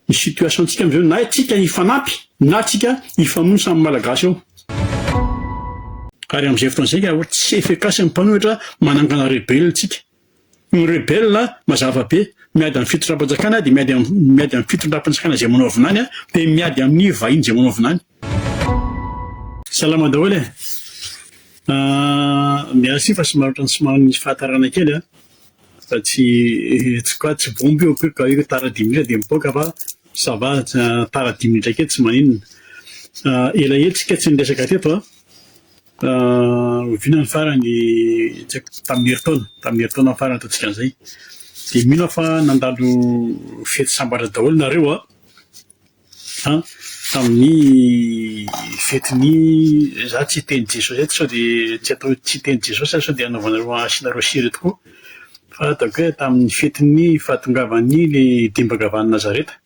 ny situation tsika amizao na tsika hifanampy na tsika hifamono samy malagasy ao ary amizay fotoana zay ka tsy efficace ny mpanohitra manangana rebelle tsika Ny rebelle mazava be, miady am fitondram-panjakana dia miady am miady am fitondram-panjakana izay manao vinany an, dia miady amin'ny vahiny izay manao vinany. Salama daholo e! Ahh merci fa somary otrany somary nisy fahatarana kely an, fa tsy tsy quoi tsy bomba io que ka io tara dimy minitra dia mipoaka fa ça va tara dimy minitra kely tsy maninona. Ahh elaela tsika tsy niresaka teto an. Oviana ny farany? Tsy haiko, tamin'ny herintaona, tamin'ny herintaona farany ataontsika an'izay. Dia mino aho fa nandalo fety sambatra daholo nareo an, tamin'ny fetin'ny, za tsy hiteny Jesosy eto sao dia tsy atao tsy hiteny Jesosy aho sao dia anaovanareo asianareo sira eto koa, fa ataoko hoe tamin'ny fetin'ny fahatongavan'ny le dimbakavan'i Nazareta,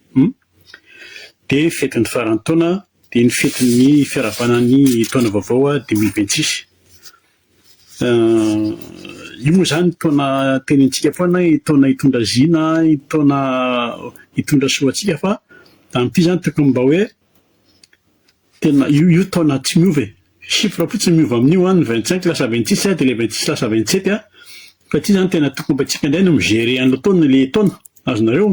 dia fetin'ny faran'ny taona. Dia ny fetin'ny firavana ny taona vaovao dimy mille vingt six. Io moa izany taona tenenintsika foana hoe taona hitondra zina, taona hitondra soa antsika fa amin'ity izany tokony mba hoe tena io io taona tsy miova e. chiffre fotsiny miova amin'io an, ny vingt cinq lasa vingt six dia ilay vingt six lasa vingt sept an, fa ity izany tena tokony mba antsika indray no mi-gérer an'ilay taona, ilay taona, azonareo?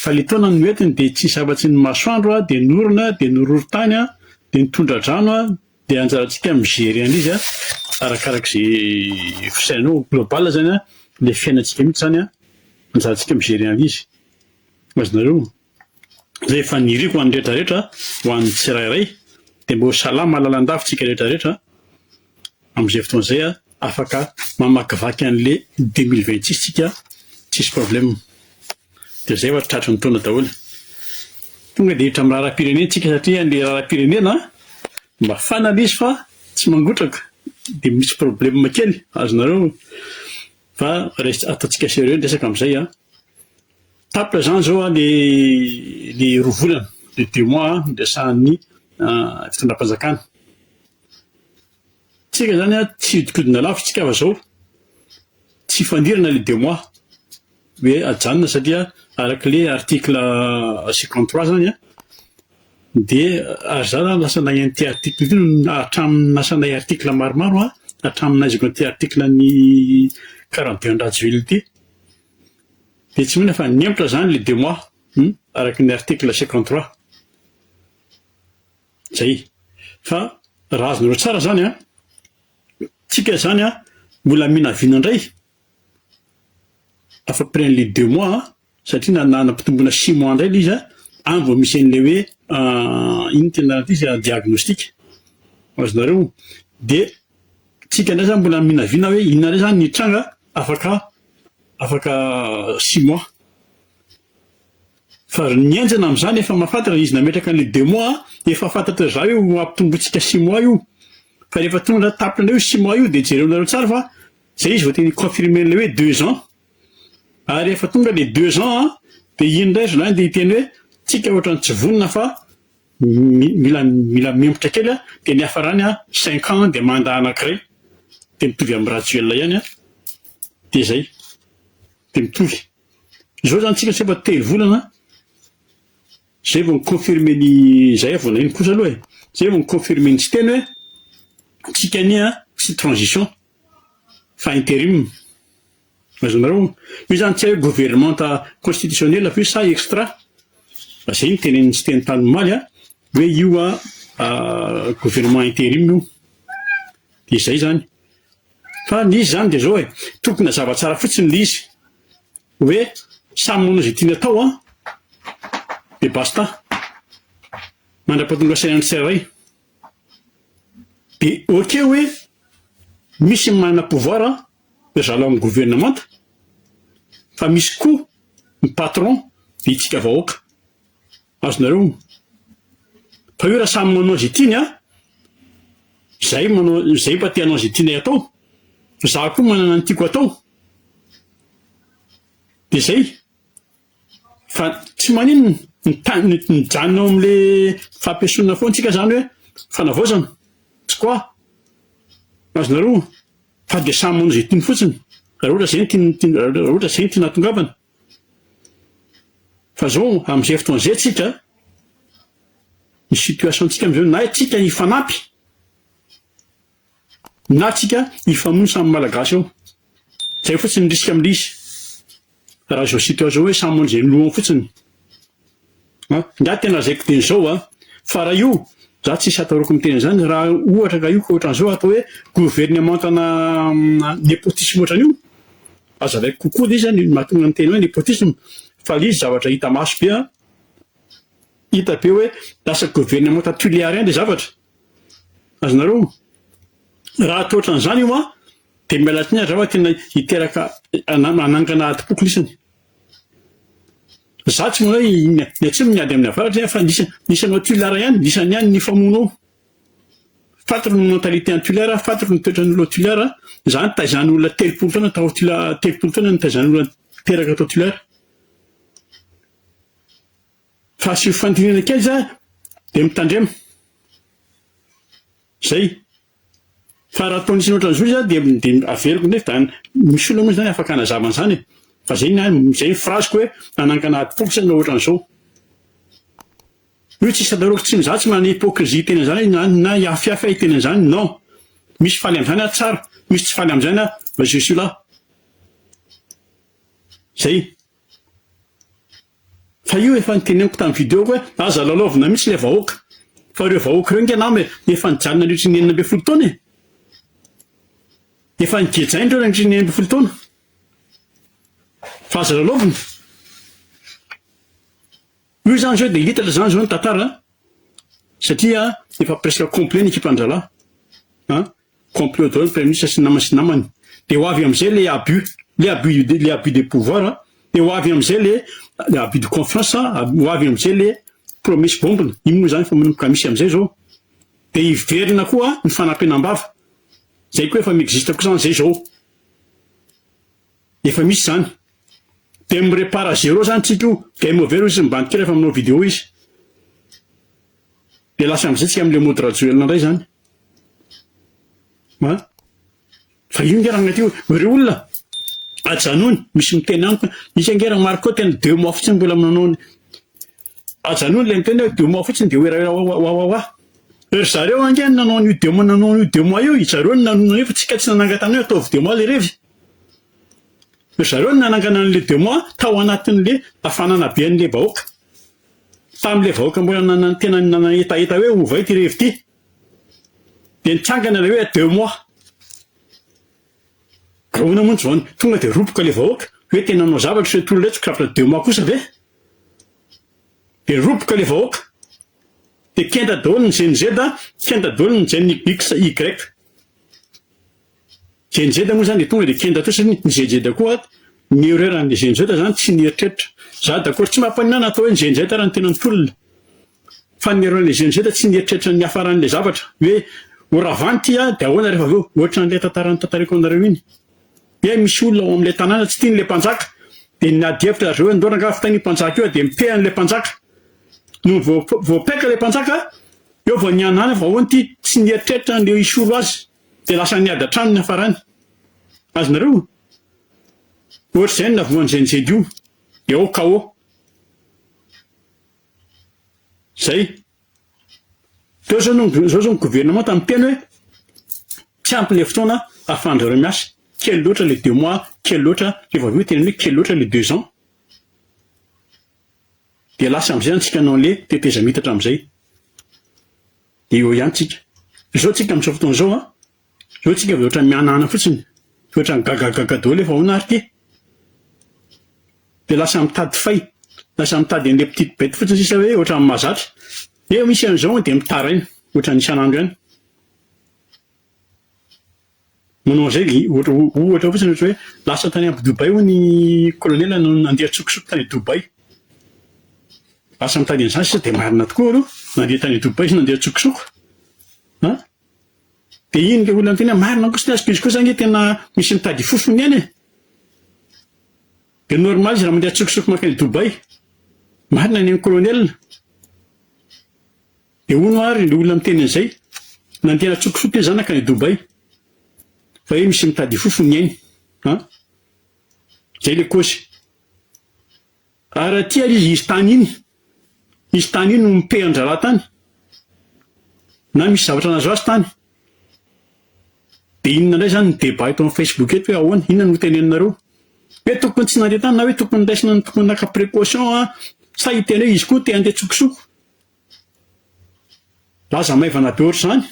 fa ilay taona no entiny dia tsisy afa-tsy ny masoandro an, dia ny orona, dia ny horohorontany an, dia ny tondra-drano an, dia anjarantsika ny mi-gérer an'izy an, arakarak'izay fisainanao, global izany an, ilay fiainantsika mihitsy izany an, anjarantsika mi-gérer an'izy, azonareo? rehefa niriko ho an'ny rehetrarehetra, ho an'ny tsirairay, dia mba ho salama lalandava isika rehetrarehetra amin'izay fotoana izay, afaka mamakivaky an'le 2026 isika tsisy problème. Dia izay ohatra tratry ny taona daholo. Tonga dia hiditra amin'ny raharaham-pirenena isika satria an'le raharaham-pirenena mafana le izy fa tsy mangotraka, dia misy problème kely, azonareo? Fa ataontsika sérieux ny resaka amin'izay an! Tapitra zany zao a le le roa volana le deux mois a niresahan'ny fitondram-panjakana. Tsika zany a tsy hihodikodina lavitra tsika fa zao tsy hifandirana le deux mois hoe ajanona satria arak'le article cinquante trois zany a de ary za zany lasa nagnano ty article ty hatramin'ny nasanay article maromaro a hatramin'ny nahaizako an'ity article an'ny quarante deux an'i Rajoelina ity. dia tsy mino fa nihemotra izany le deux mois hum araka ny article cinquante trois zay fa raha azonareo tsara zany an tsika izany an mbola minavina indray afa près an'le deux mois satria na nanam-pitomboana six mois indray le izy an any vao misy an'le hoe inona tena ity izy an diagnostic azonareo dia Tsika indray zany mbola mivinavina hoe inona indray zany ny hitranga afaka afaka six mois. Fa ry ny enjana amin'izany efa mahafantatra ny izy nametraka an'ilay deux mois an, efa fantatra zay io hampitombointsika six mois io. Fa rehefa tonga anaty tapitra indray io six mois io dia jereonareo tsara fa zay izy vao te ni-confirmer an'ilay hoe deux ans. Ary rehefa tonga ilay deux ans an, dia iny indray zalahy dia hiteny hoe tsika ohatran'ny tsy vonona fa Mila mila mihembotra kely a, dia ny hiafarany a cinq ans dia mandat anankiray dia mitovy amin'i Rajoelina ihany a, dia zay, dia mitovy. Zao zany tsika tsy efa telo volana zay vao mi-confirmer ny zay vao naino kosa aloha e, zay vao mi-confirmer ny Siteny hoe tsika anie a tsy transition fa interim. Azonareo onona. Io izany tsy hay governemanta constitutionnel ve sa extra? Fa izay no tenenin'i Siteny tany omaly a, hoe io a gouvernement interim io. Dia izay izany. Fa ny izy izany dia izao e, tokony hazava tsara fotsiny ilay izy hoe samy manao izay tiany atao an, dia basta. Mandra-pahatonga saina ny tsirairay. Dia ok hoe misy ny manana pouvoir zala amin'ny gouvernemanta fa misy koa ny patron dia itsika vahoaka azonareo ny pahure samy manao izay tiany a izay manao izay mba te hanao izay tianay atao fa za koa manana ny tiako atao dia zay Fa tsy maninona, ny tany mijanona ao amin'ilay fampiesonana foana tsika izany hoe fanavaozana, tsy quoi? Azonareo? Fa dia samy manao izay tiany fotsiny, raha ohatra izay no tiany tiany raha ohatra izay no tiany hatongavana. Fa izao amin'izay fotoana izay tsika, ny situation-tsika amin'izao na tsika hifanampy, Na tsika hifamono samy malagasy eo. Zay fotsiny risque amindrisy. Raha zao situation hoe samy manao izay lohany fotsiny. An! Ingahy tena lazaiko dia izao an! Fa raha io, za tsisy atahorako miteny an'izany, raha ohatra ka io ka ohatran'izao atao hoe governemantana nepotisme ohatran'io, azavaiko kokoa le izy an, mahatonga ny teny hoe nepotisme, fa le izy zavatra hita maso be an, hita be hoe lasa governemanta tulearien le zavatra. Azonareo ma? Raha tsy ohatran'izany io ma, dia miala tsiny aza aho fa tena hiteraka hanangana adim-poko lisany. Izaho tsy manao hoe ny ny atsimo miady amin'ny avaratra ihany fa lisa lisan'ny ao Tuileries ihany, lisany ihany ny famono ao. Fantatra ny mentalité any Tuileries a, fantatra ny toetran'ny olona ao Tuileries a. Izaho nitaizan'ny olona telopolo taona tao Tula- telopolo taona nitaizan'ny olona teraka tao Tuileries. Fa asio fandinihana kely za de mitandrema. Zay. Fa raha ataon'ny sinoa ohatran'izao izy dia dia averiko ndray fa misy olona moa zany afaka hanazava an'zany e. Fa zay ny ahy, zay ny phrase-ko hoe hanangana ady porofo ianao ohatran'izao. Io tsisy atahorako tsy za tsy manana hypocrisie hiteny an'zany na na hihafihafy aho hiteny an'zany, non. Misy faly am'zany aho tsara, misy tsy faly am'zany aho, je suis là. Zay. Fa io efa noteneniko tamin'ny video hoe aza lalaovina mihitsy ilay vahoaka. Fa ireo vahoaka ireo nge nama e, efa nijaly nandritry ny enina ambin'ny folo taona e. Efa nigejaina ireo nandritry ny enina ambin'ny folo taona. Fa aza lalaovina. Io izany zao dia little izany izao ny tantara satria efa presque complet ny ekipan dralahy an, complet daholo ny premier ministre sy ny namany sy ny namany dia ho avy amizay le abus le abus de le abus de pouvoir dia ho avy amizay le le abus de confiance ho avy amizay le promesse bombina ino moa izany fa manomboka misy amizay zao dia hiverina koa ny fanampenam-bava zay koa efa mi-existe koa izany izay zao. Efa misy zany. Dia mi repart à zero zany tsika io. Game over io izy mibantika rehefa manao video izy. Dia lasa amizay tsika amle mody Rajoelina ndray zany. An. Fa io nge raha agnaty io. Ireo olona ajanony misy miteny amiko isika nge raha Marco tena deux mois fotsiny mbola manao ny ajanony le miteny hoe deux mois fotsiny dia hoerahera wawawa. Ry zareo ange ny nanao an'io deux mois nanao an'io deux mois io i zareo ny nanonona an'io fa tsika tsy nanangatana hoe ataovy deux mois le revy. Ry zareo no nanangana an'ilay démon tao anatin'ilay hafanana be an'ilay vahoaka. Tamin'ilay vahoaka mbola nanana tena nanahetaheta hoe ovay ity revy ity. Dia nitsangana ilay hoe démon. Ahoana moa ny tsy vao tonga dia roboka ilay vahoaka? Hoe tena nanao zavatra ireo tolona iretsy ka démon kosa ve? Dia roboka ilay vahoaka. Dia kenda daholo ny GNZ, kenda daholo ny GNYY. Zenjeda moa zany tonga de kenda fotsiny ny zenjeda koa ny erreur an'ny zenjeda zany tsy nieritreritra za d'accord tsy mampaninona na atao hoe ny zenjeda ara ny tena ny tolona fa ny erreur an'ny zenjeda tsy nieritreritra ny hafaran'ilay zavatra hoe ho ravany ty a de ahoana rehefa avy eo ohatran'ilay tantara notantariko anareo iny hoe misy olona ao amin'ilay tanàna tsy tian'ilay mpanjaka de niady hevitra zareo ndao rangaha fitainy io mpanjaka io a de mifehy an'ilay mpanjaka no voa- voapaika ilay mpanjaka eo vao nihanana fa ahoana ty tsy nieritreritra an'ilay hisolo azy Dia lasa niady hatrany ny hafarany. Azonareo? Ohatr'izay ny navoan'i Zenjed io. Dia ao KO. Izay. Teo izao no, izao izao ny gouvernemanta miteny hoe tsy ampy ilay fotoana ahafahan-dry zareo miasa. Kely loatra ilay deux mois, kely loatra, rehefa avy eo tena hoe kely loatra ilay deux ans. Dia lasa amin'izay antsika nanle tetezamiitatra amin'izay. Dia eo ihany tsika. Zao tsika amzao fotoana zao an! Zao tsika de otrany mihanahana fotsiny. Fa otrany gagagaga daholo efa ahoana ary ty? De lasa mitady fay, lasa mitady anle petite bete fotsiny sisa hoe otrany mahazatra. Eo misy anzao de mitaraina, otrany isanandro ihany. Manao an'izay ohatra fotsiny ohatra hoe lasa tany Abu Dubai hono i Colonel nanao nandeha an-tsokosoko tany Dubai. Lasa nitady an'izany sisa dia marina tokoa aloha nandeha tany Dubai izy nandeha an-tsokosoko an! Dia iny ilay olona niteny hoe marina kosa ny azy fa izy kosa ange tena misy mitady fofony ihany e! Dia normal izy raha mandeha an-tsokosoko mankany Dubai. Marina ny an'i Colonel. Dia hono ary le olona miteny an'izay, nandeha natsokosoko le zanaka any Dubai, fa hoe misy mitady hifofo ny ainy an! Zay le cause. Ary aty ary izy izy tany iny, izy tany iny no mi-paie an-draharaha tany, na misy zavatra nahazo azy tany. Dia inona indray zany ny débat eto amin'ny Facebook eto hoe ahoana, inona no teneninareo? Hoe tokony tsy nandeha tany na hoe tokony raisina ny tokony naka précaution an! Sa hiteny hoe izy koa te handeha tsokosoko? Lasa maivana be ohatr'izany.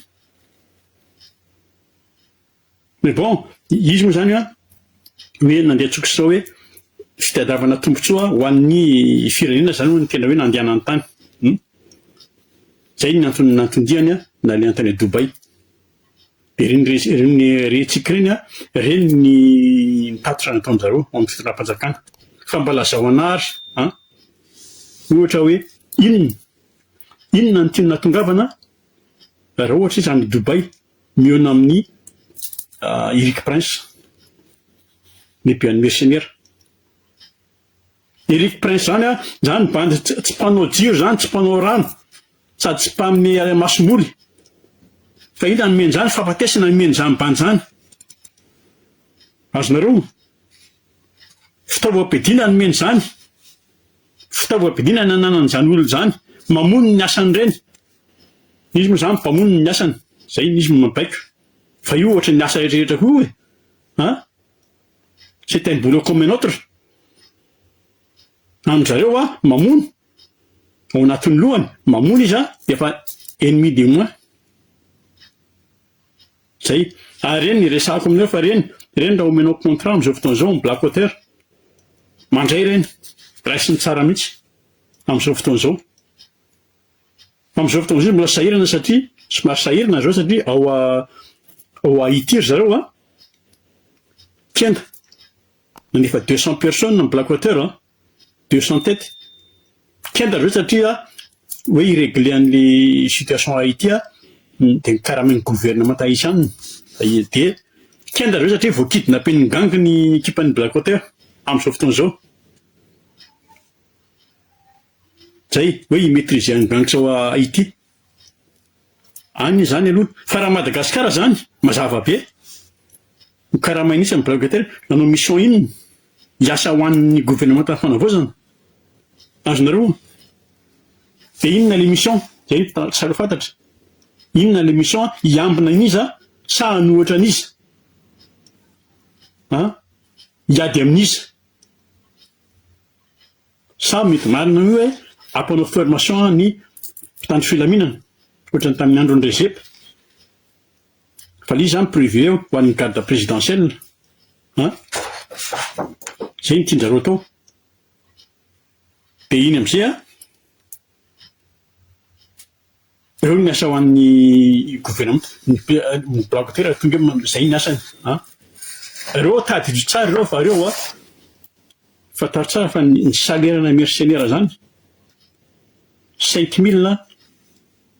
Mais bon, izy moa izany an, hoe nandeha tsoky sao hoe fitadiavana tombontsoa ho an'ny firenena izany hono ny tena hoe nandehanany tany. Hum. Izay no antony nanton-diany an, nalehany tany Dubaï. Dia ireny res, ireny retsiky ireny an, ireny ny tatitra nataon-dry zareo ao amin'ny fitondram-panjakana. Fa mba lazao anah ary an, ohatra hoe inona, inona no tianao hatongavana raha ohatra izy any Dubaï mihaona amin'i Eric Prince, lehiben'ny mercenaires. Eric Prince zany an, zany bandy tsy mpanao jiro zany, tsy mpanao rano, sady tsy mpanome masomboly, fa inona no omeny zany, fahafatesana no omeny zany bandy zany, azonareo, fitaovam-piadiana no omeny zany, fitaovam-piadiana no ananany zany olona zany, mamono ny asany reny, izy moa zany mpamono ny asany, zay izy no mabaiko, fa io ohatry ny asa rehetra koa e, an. C'est un boulot comme un autre. An-dry zareo hoa mamono, ao anatin'ny lohany, mamono izy an, dia efa ennemi de moins. Zay. Ary ireny niresahako aminareo fa ireny, ireny raha omenao contrat amin'izao fotoana izao ny black water, mandray ireny, raisiny tsara mihitsy, amin'izao fotoana izao. Amin'izao fotoana izao izy mbola sahirana satria, somary sahirana izao satria ao ao Haïti ry zareo an, kenda, nany efa deux cents personnes ny black water an, deux cents têtes, kenda ry zareo satria hoe hi-regler an'le situation Haïti an, dia nikaramain'ny gouvernement tahitian, dia kenda ry zareo satria vao kidnapen'ny gang ny ekipan'ny black water, amin'izao fotoana izao. Zay hoe hi-maitriser an'i Banks ao Haiti. Any zany aloha. Fa raha Madagasikara zany, mazava be. Ho karamaina itsy ny blague teo hoe nanao mission inona? Hiasa ho an'ny governemanta fanavaozana? Azonareo? Dia inona le mission? Zay no tsy sarotra fantatra. Inona le mission? Hiambina an'iza sa hanohitra an'iza? An? Hiady amin'iza? Sa mety marina io hoe ampanao formation ny mpitandro filaminana ohatran'ny tamin'ny andron'i Rezep valiha zany prevu eo ho an'ny garde présidentielle an! Zay no tianjareo atao de iny amzay an! Ireo no miasa ho an'ny governemanta, ny blaogy ty raha tonga eo izay ny asany an! Ireo tadidio tsara ireo fa ireo an! Fantaro tsara fa ny salera-na mersenera zany cinq mille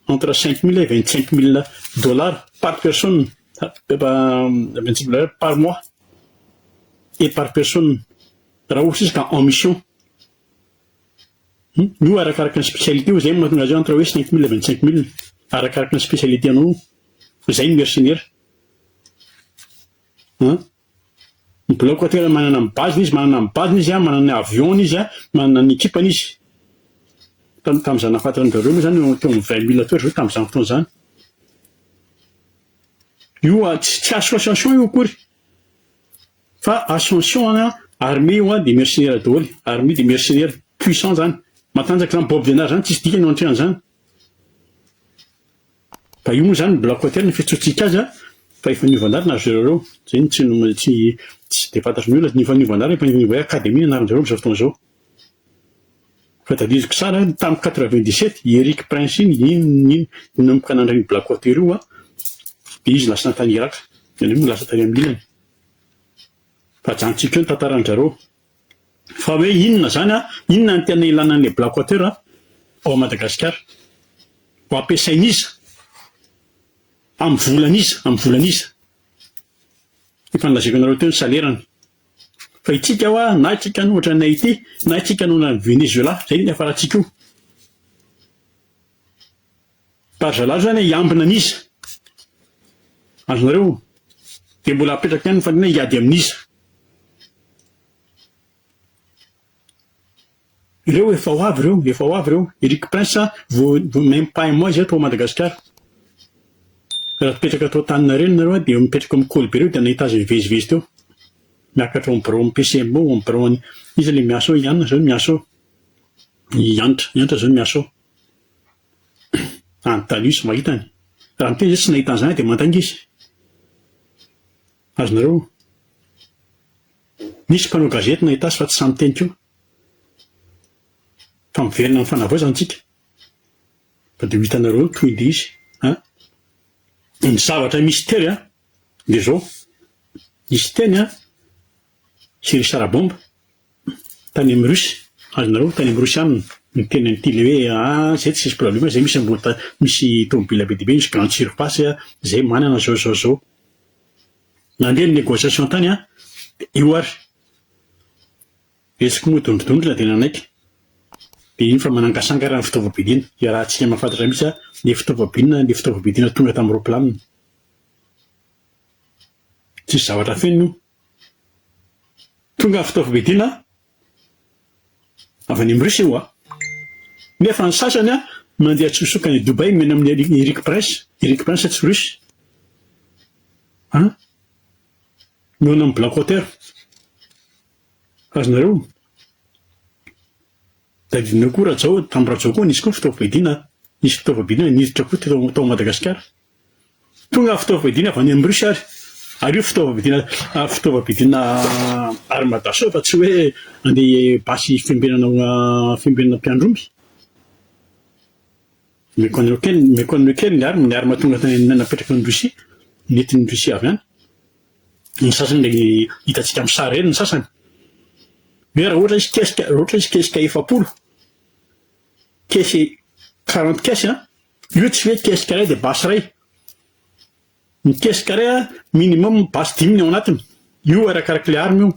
entre cinq mille et vingt cinq mille dollars par personne vingt cinq mille par mois et par personne raha ohatra izy ka en mission. Io arakaraka ny spécialité eo, zay no mahatonga azy eo entre hoe cinq mille vingt cinq mille arakaraka ny spécialité anao io. Zay ny mercenaire. An! Ny bilaogy koa tena manana ny base-ny izy, manana ny base-ny izy an, manana ny avion-ny izy an, manana ny équipe-ny izy. Tam tam za nahafantatra an'i Zareo moa zany eo am vingt mille teo ry zareo tam'zany fotoana zany. Io an, tsy tsy association io akory. Fa ascension an armée io an dia mercenaires daholo, armée dia mercenaires puissant zany, matanjaka zany bob denard zany tsisy dikany eo antrehan'izany, fa io moa zany ny black water no fiantsoantsika azy an, fa efa niova anarana ry zareo reo, zay no tsy tsy tsy dia fantatry ny olona, ny efa niova anarana efa niova hoe academy ny anaran'izareo amzao fotoana zao. Fa tadidiko tsara an, tam quatre-vingt-dix-sept i Eric Prince iny iny no nanomboka nandray ny Black Water io an, dia izy lasa tany Irak, ianay moa lasa tany amin'ny ilany. Fa ajanontsika eo ny tantaran-dry zareo. Fa hoe inona izany an, inona no tena ilana an'ilay Black Water an, ao Madagasikara? Ho ampiasain'iza? Amin'ny volan'iza? Amin'ny volan'iza? Efa nolazaiko anareo teo ny salerany. Fa itsika hoa na itsika no ohatran'i Haiti, na itsika no ohatran'i Venezuela, zay no hiafarantsika io. Fa ry zalahy zany hiambina an'iza? Azonareo? Dia mbola apetraka ihany ny fanontaniana hiady amin'iza? Ireo efa ho avy ireo, efa ho avy ireo. Eric Prince a, vous même pas un mois izay tao Madagasikara. Raha mipetraka tao Antaninarenina nareo dia mipetraka ao amin'ny Kolibé ireo dia nahita azy mivezivezy teo. Miakatra ao amin'ny biraon'ny PCMA ao amin'ny biraon'ny, iza ilay miasa ao, i Anna izao no miasa ao. I Antra, i Antra izao no miasa ao. Any Talus mahita any. Raha miteny izay tsy nahita an'izany dia mandainga izy. Azonareo. Nisy mpanao gazety nahita azy fa tsy sahy miteny koa. Fa miverina amin'ny fanavaozana isika. Fa dia ho hitanareo ny tohin'ilay izy an! Ny zavatra misy tery an! dia izao, nisy teny an! Jerry Sarabomba, tany amin'ny Russie, azonareo, tany amin'ny Russie any, niteny an'ity ilay hoe, ah, izay tsy misy problema, izay misy ambota, misy tomobila be dia be, misy grande surface, izay manana izao, izao, izao. Nandeha ny negociation tany an, dia io ary Retsiky moa dondrodondrona dia nanaiky, dia iny fa manangasangara ny fitaovam-piadiana, iarahantsika mahafantatra mihitsy an, le fitaovam-piadiana, le fitaovam-piadiana tonga tamin'ny ropilanina. Tsisy zavatra feno io. Tonga ny fitaovam-piadiana Avy any am Russie ho'a. Nefa ny sasany an mandeha tsosoka any Dubai mena amin'ny Eric Eric Prince, Eric Prince tsy Russe. An. Mihaona amin'ny Black Water. Azonareo? Tadidinao koa Rajao, tamin'ny Rajao koa nisy koa fitaovam-piadiana an. Nisy fitaovam-piadiana niditra koa teto tao Madagasikara. Tonga fitaovam-piadiana avy any amin'ny Russie ary. Ary io fitaovam-piadiana fitaovam-piadiana armada sao fa tsy hoe andeha basy fiambenana fiambenana mpiandry omby. Méconnu kely méconnu kely ny armes ny armes tonga tany napetraka ny Russie nentin'ny Russie avy any. Ny sasany dia hitantsika amin'ny sary eny ny sasany. Hoe raha ohatra izy kesika raha ohatra izy kesika efapolo caisses quarante caisses an! Io tsy mety caisse carré dia basy iray. Ny caisse carré a minimum basy dimy ny ao anatiny. Io arakaraka ilay arme io.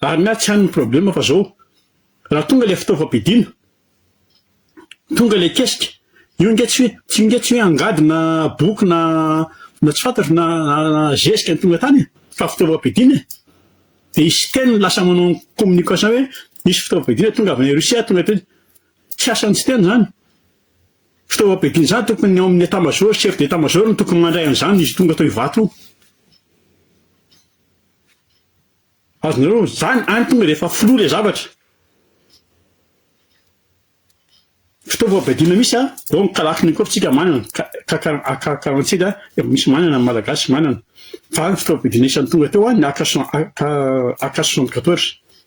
Ary ny ahy tsy any ny problème fa zao. Raha tonga ilay fitaovam-pidiana, tonga ilay kesika, io nge tsy hoe io nge tsy hoe angady na boky na na tsy fantatro na na zezika ny tonga tany e. Fa fitaovam-pidiana e. Dia i Siteny lasa manao communication hoe misy fitaovam-pidiana tonga avy any Russie tonga teny. Tsy asan'ny siteny izany. Fitaovam-piadian'izany tokony ny ao amin'ny état major, chef d'état major no tokony mandray an'izany izy tonga tao Ivato io. Azonareo izany antony rehefa filoha ilay zavatra. Fitaovam-piadiana misy a, donc kalakiny koa fitsika manana, kakarantsika dia misy manana ny malagasy manana. Fa fitaovam-piadiana isan'ny tonga teo a, ny AK 74.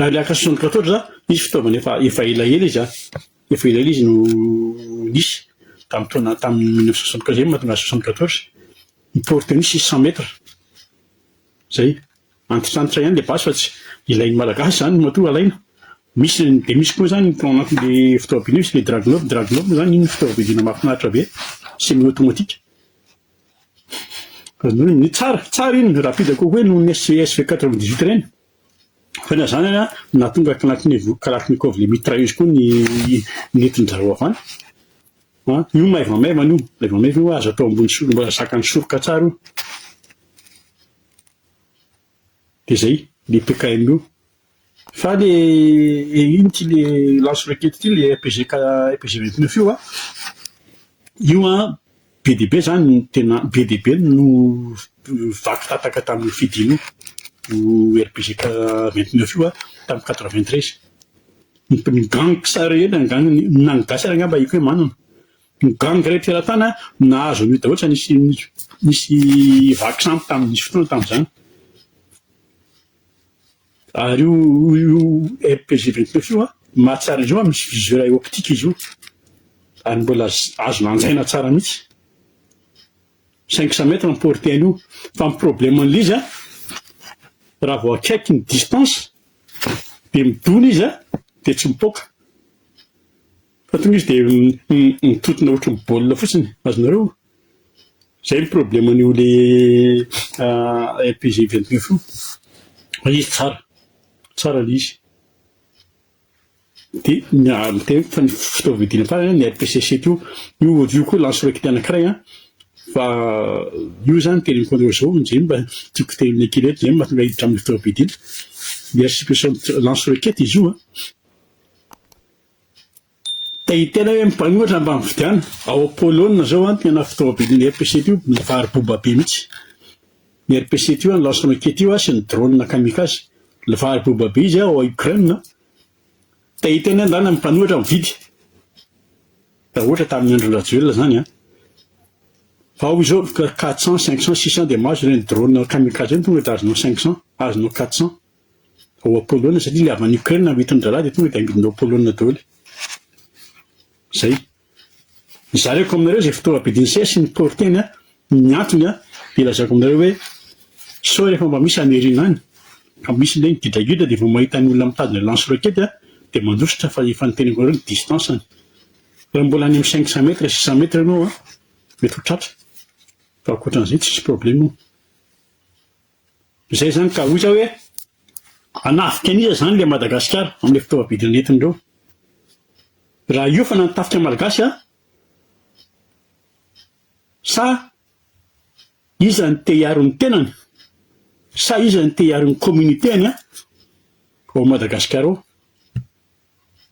Ary ilay haka sonoka ataotra zany, misy fitaovana efa efa elaela izy an, efa elaela izy no nisy tamin'ny taona tamin'ny mille neuf cent soixante quinze, izay no mahatonga azy soixante quatorze, ny tour tennis izy cent mètres, zay. Antitrantitra ihany le basy fa tsy ilain'ny malagasy zany matoa alaina. Misy ny dia misy koa zany tao anatin'le fitaovam-piadiana misy le dragunov, dragunov moa zany iny fitaovam-piadiana mahafinaritra be, semi automatique. Ny tsara, tsara iny, rapide kokoa noho ny SV SV quatre vingt dix huit ireny. Fa na izany ary, nahatonga Kalachnikov, Kalachnikov le mitrailleuse koa ny nentin-dRarao Avana. An, io maivamaivana io, maivamaivana io, aza atao ambony soroka, mbola zakan'ny soroka tsara io. Dia izay, le PKM io. Fa le, ino ity le lance-roquette ity, le RPG ka, RPG vingt neuf io an, io an, Be dia be izany, tena be dia be no vaky tataka tamin'io fidiana io RBGK vingt neuf io tamin'ny quatre vingt treize. Ny gang mpisara rehetra, ny gang na ny gasy ary angamba haiko hoe manana. Ny gang rehetra eran-tany no nahazo an'io daholo, tsy nisy nisy vaky sampy tamin'ny nisy fotoana tamin'izany. Ary io io MPG vingt neuf io an, ny mahatsara izy io an misy viseur à optique izy io ary mbola azo lanjaina tsara mihitsy. Cinq cent mètres ny portée an'io fa ny problème an'ilay izy an raha vao akaiky ny distance dia midona izy an dia tsy mipoaka fa tonga izy dia mitotona ohatry ny baolina fotsiny, azonareo? Izay ny problème an'io le RPG 29 io fa izy tsara, tsara le izy de ny fa ny fitaovam-piadiana farany an ny RPC 7 io, io io koa lance roquette anakiray an fa io zany tena mi contre zao zay mba tiako tenenina kely eto zay no mahatonga hiditra amin'ny fitaovam-piadiana ny RCP 60 lance roquette izy io an. Te hiteny aho hoe mpanoratra mba mividiana, ao Polonina zao an, tena fitaovam-bidin'ny RPC ity io, mivary boba be mihitsy ny RPC ity an, lance roquette io an, sy ny drone kamikaze, mivary boba be izy an, ao Ukraine an, te hiteny aho ndana ny mpanoratra mividy, raha ohatra tamin'ny andron'i Rajoelina zany an, fa ao izao quatre cents, cinq cents, six cents dia mahazo ireny drone kamikaze ireny tonga dia azonao cinq cents, azonao quatre cents. ao a Polonina satria le avy any Ukraine no hitondra raha de tonga de angidina ao Polonina daholo. Zay. Zareko aminareo zay fitaova bidiny sey asiany porteny a, ny antony a de lazako aminareo hoe sao rehefa mba misy any Airina any ka misy le gidragidra de vao mahita ny olona mitazona lance roquette a de mandositra fa efa niteneniko anareo ny distance any. Raha mbola any amin'ny cinq cent mètres, six cent mètres ianao a mety ho tratra fa ankoatran'izay tsisy problème. Izay izany ka hoy za hoe hanafika an'iza izany ilay Madagasikara amin'ilay fitaovam-bidiny nentiny ireo. Raha hiofana ny tafika malagasy an? Sa iza no te hiaro ny tenany? Sa iza no te hiaro ny communauté-ny an? Ao Madagasikara ao?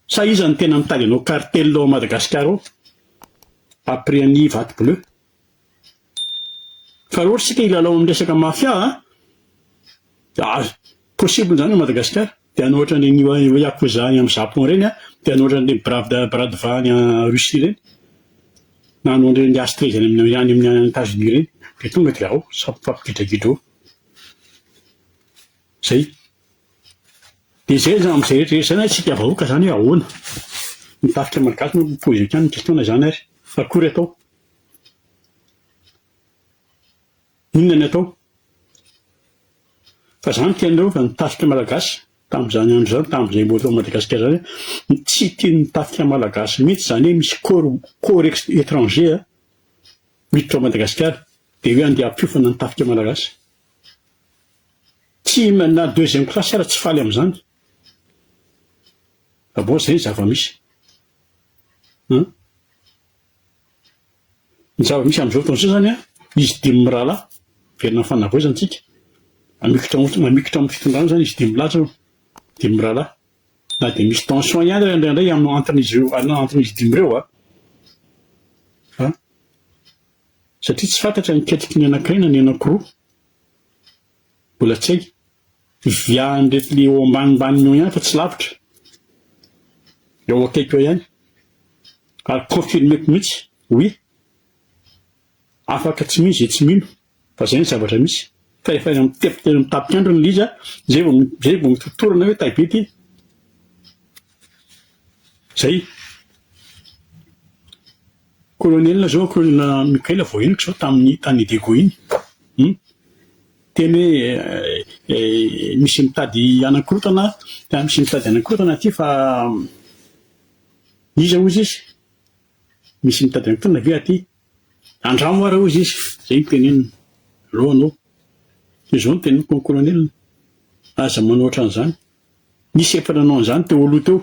Sa iza no tena mitady hanao cartel ao Madagasikara ao? Après an'i Vato Bleu. Fa raha ohatra isika hilalao amin'ny resaka mafia a, ary possible izany ao Madagasikara, dia any ohatra an'ireny yakuza any amin'ny Japon ireny a, dia any ohatra an'ireny bravy de bras de va any Russie ireny, na any ohatra an'ireny Astrais any amin'ny any amin'ny Etats Unis ireny, dia tonga dia ao samy mifampigidragidra eo. Izay. Dia izay izany amin'izay rehetra rehetra izany ary isika vahoaka izany hoe ahoana? Ny tafika malagasy moa no mi-poser hatrany ny question-na izany ary. Akory atao? Inona ny atao? Fa zany tianreo fa ny tafika malagasy tamzany andro zany tamzay mbola tao Madagascar zany hoe tsy tian'ny tafika malagasy mihitsy zany hoe misy corps corps étranger a miditra ao Madagascar de hoe andeha hampiofana ny tafika malagasy tsy na deuxième classe ara tsy faly amzany fa bon zay ny zava-misy an Ny zava-misy amin'izao fotoana izao izany, izy dimy mirahalahy, miverina amin'ny fanavaozantsika, mamikitra ao mamikitra ao amin'ny fitondrana izany izy dimy lahy izao, dimy mirahalahy. Na dia misy tension ihany ary indraindray amin'ny anton'izy ireo an- anton'izy dimy ireo an, an, satria tsy fantatra ny ketriky ny anankiray na ny anankiroa. Mbola tsy hay. Viahan'ireto le eo ambanimbaniny eo ihany fa tsy lavitra. Eo akaiky eo ihany. Ary confirmeko mihitsy, oui. Afaka tsy mino izay tsy mino fa izay ny zavatra misy. Fa efa eny amin'ny tefitra eny amin'ny tapiandro ny Liza, izay vao izay vao mitotorona hoe tay be ty. Zay. Kolonela izao, kolonela Mikaila vao henoko izao tamin'ny tany Diego iny. Hum. Teny hoe misy mitady hanakorotana, tena misy mitady hanakorotana aty fa iza hozy izy? Misy mitady hanakorotana ve aty? Andramo ary hozy izy. Izay no teneniny. Aleo anao. Dia izao no teneniko an'i kolonela, aza manao ohatran'izany. Nisy efa nanao an'izany teo aloha teo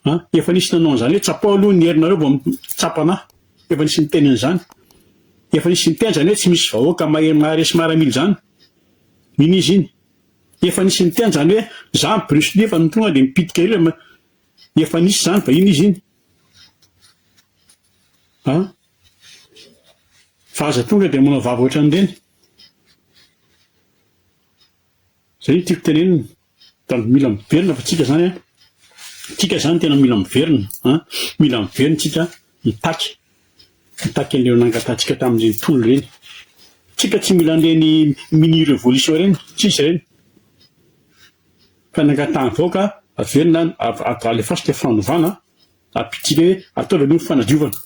an! Efa nisy nanao an'izany hoe tsapao aloha ny herinareo vao mitsapa anah! Efa nisy niteny an'izany! Efa nisy niteny izany hoe tsy misy vahoaka mahery maharesy maramila izany! Iny izy iny! Efa nisy niteny izany hoe za ny Bruce Lee fa ny tonga dia mipitika ery le Efa nisy izany vahiny izy iny! An! Fa aza tonga dia manao vava ohatran'ireny! Zay no tiako tenenina fa mila miverina fa tsika zany tsika zany tena mila miverina an mila miverina tsika mitaky mitaky an'ireo nangatahantsika tamin'ireny tolona ireny tsika tsy mila an'ireny mini revolution ireny tsisy ireny fa nangatahan'ny vahoaka averina alefaso teo fanovana ampitsika hoe ataovy aloha ny fanadiovana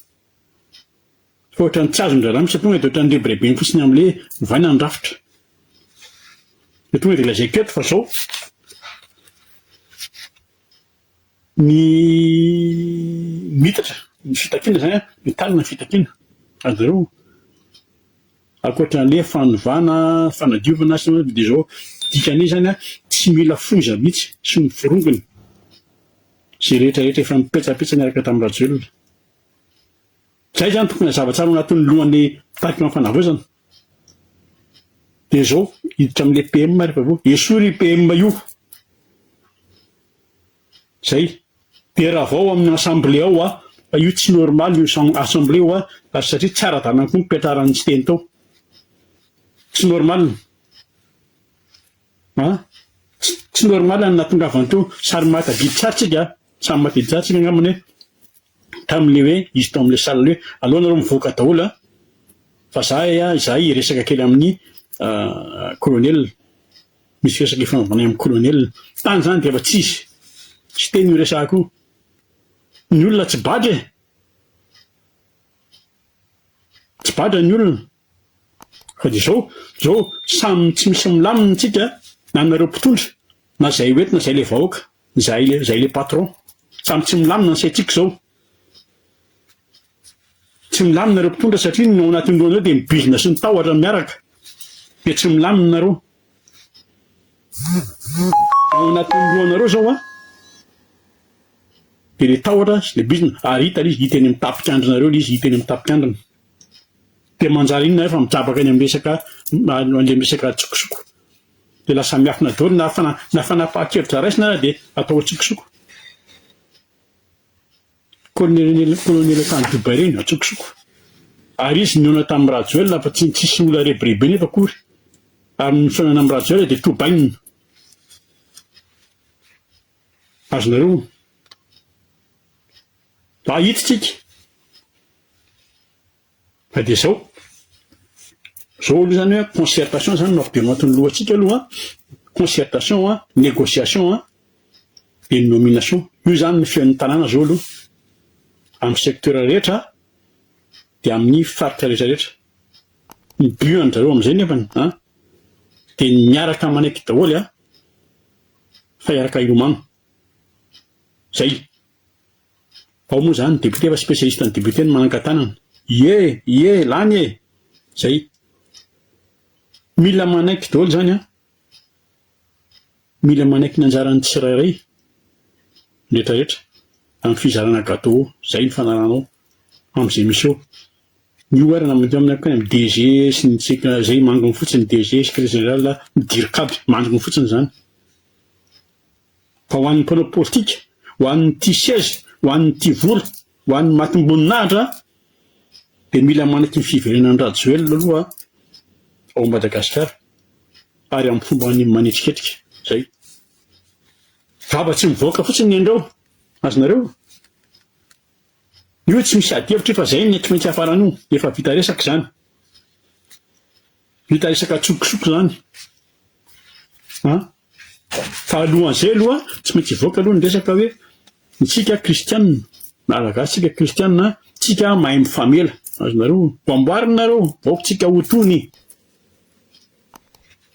Fa ohatran'ny tsy azon-dry zalahy mihitsy, tonga dia ohatran'ny rebirebeny fotsiny amin'ilay ovaina ny rafitra. Dia tonga dia lazaiko eto fa izao, ny miitatra ny fitakiana izany an, mitanina ny fitakiana, ary zareo ankoatran'ilay hoe fanovana, fanadiovana sy ny sisa dia izao, dikan'io izany an, tsy mila foza mihitsy sy ny forongony izay rehetrarehetra efa nipetsapetsa niaraka tamin'i Rajoelina. Izay izany tokony hazava tsara ao anatin'ny lohan'ny tarikana fanavaozana. Dia izao, hiditra amin'ilay PM ary vaovao. Esory io PM io. Izay. Dia ravao amin'ny assemblée ao hoa, fa io tsy normal io assemblée hoa, ary satria tsy ara-dalana koa ny fipetraran'i Siteny tao. Tsy normal. An! Tsy normal ny nahatongavany teo, sary mahatadidy tsara tsika an! Samy mahatadidy tsara tsika angambany hoe tamin'ilay hoe izy tao amin'ilay salle hoe aleo nareo mivoaka daholo an! Fa izahay an, izahay hiresaka kely amin'ny colonel, misy resaka hifanaovanay amin'ny colonel. Tany izany dia efa tsisy tsy teny io resaka io. Ny olona tsy badra e! Tsy badra ny olona. Fa dia zao, zao samy tsy misy milamina antsika na nareo mpitondra, na zay ho eto na zay le vahoaka, zay le zay le patron. Samy tsy milamina ny saintsika zao. Tsy milamina ireo mpitondra satria ny ao anatin'ny lohanareo dia mibizina sy mitahotra miaraka. Dia tsy milamina nareo. Ao anatin'ny lohanareo zao a. Dia le tahotra sy le bizina ary hita le izy hita eny amin'ny tapikandrinareo le izy hita eny amin'ny tapikandrina. Dia manjary inona efa mitrabaka eny amin'ny resaka an'ilay resaka an-tsokosoko. Dia lasa miafina daholo na fana na fanapahan-kevitra raisina ary dia atao an-tsokosoko. Kolonely kolonely tany Dubaï ireny an-tsokosoko. Ary izy nihaona tamin'i Rajoelina fa tsy tsisy olona rebirebe nefa akory. Ary ny fihaonana amin'i Rajoelina dia tobaina. Azonareo honina. Mahita tsika fa dia zao. Zao aloha zany hoe concertation zany no avy de matin'ny lohantsika aloha an, concertation an, négociation an, de ny nomination. Io zany ny feon'ny tanàna zao aloha amin'ny secteur rehetra an, de amin'ny faritra rehetra rehetra. Ny but an-dry zareo am'zay nefany an, de ny miaraka manaiky daholo an, fa hiaraka hilomano. Zay. Ao moa zany député fa spécialiste ny député no manankatanana. Ie! Ie! Lany e! Zay. Mila manaiky daholo zany an! Mila manaiky ny anjaran'ny tsirairay ny retraretra amin'ny fizarana gateau. Zay ny fanalanao amin'izay misy eo. Ny OR na mety amin'ny amin'ny DG sy ny tseka zay mangony fotsiny DG, secrétaire général, ny dircab, mangony fotsiny zany. Fa ho an'ny mpanao politika, ho an'ny tia seza, ho an'ny tia vola, ho an'ny matim-boninahitra dia mila manaky ny fiverenan'i Rajoelina aloha ao Madagasikara ary amin'ny fombany manetriketrika. Izay. Vava tsy mivoaka fotsiny ny andrao. Azonareo? Io tsy misy adihevitra io fa izay ny tsy maintsy hafarana io. Efa vita resaka izany. Vita resaka antsokosoko izany an! Fa alohan'izay aloha tsy maintsy hivoaka aloha ny resaka hoe isika kristianina, malagasy isika kristianina an, tsika mahay mifamela, azonareo vao amboarina nareo vao ko tsika ho tony,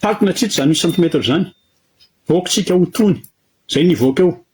takona tsitsy izany centimètre izany, vao ko tsika ho tony, izay nivoaka eo.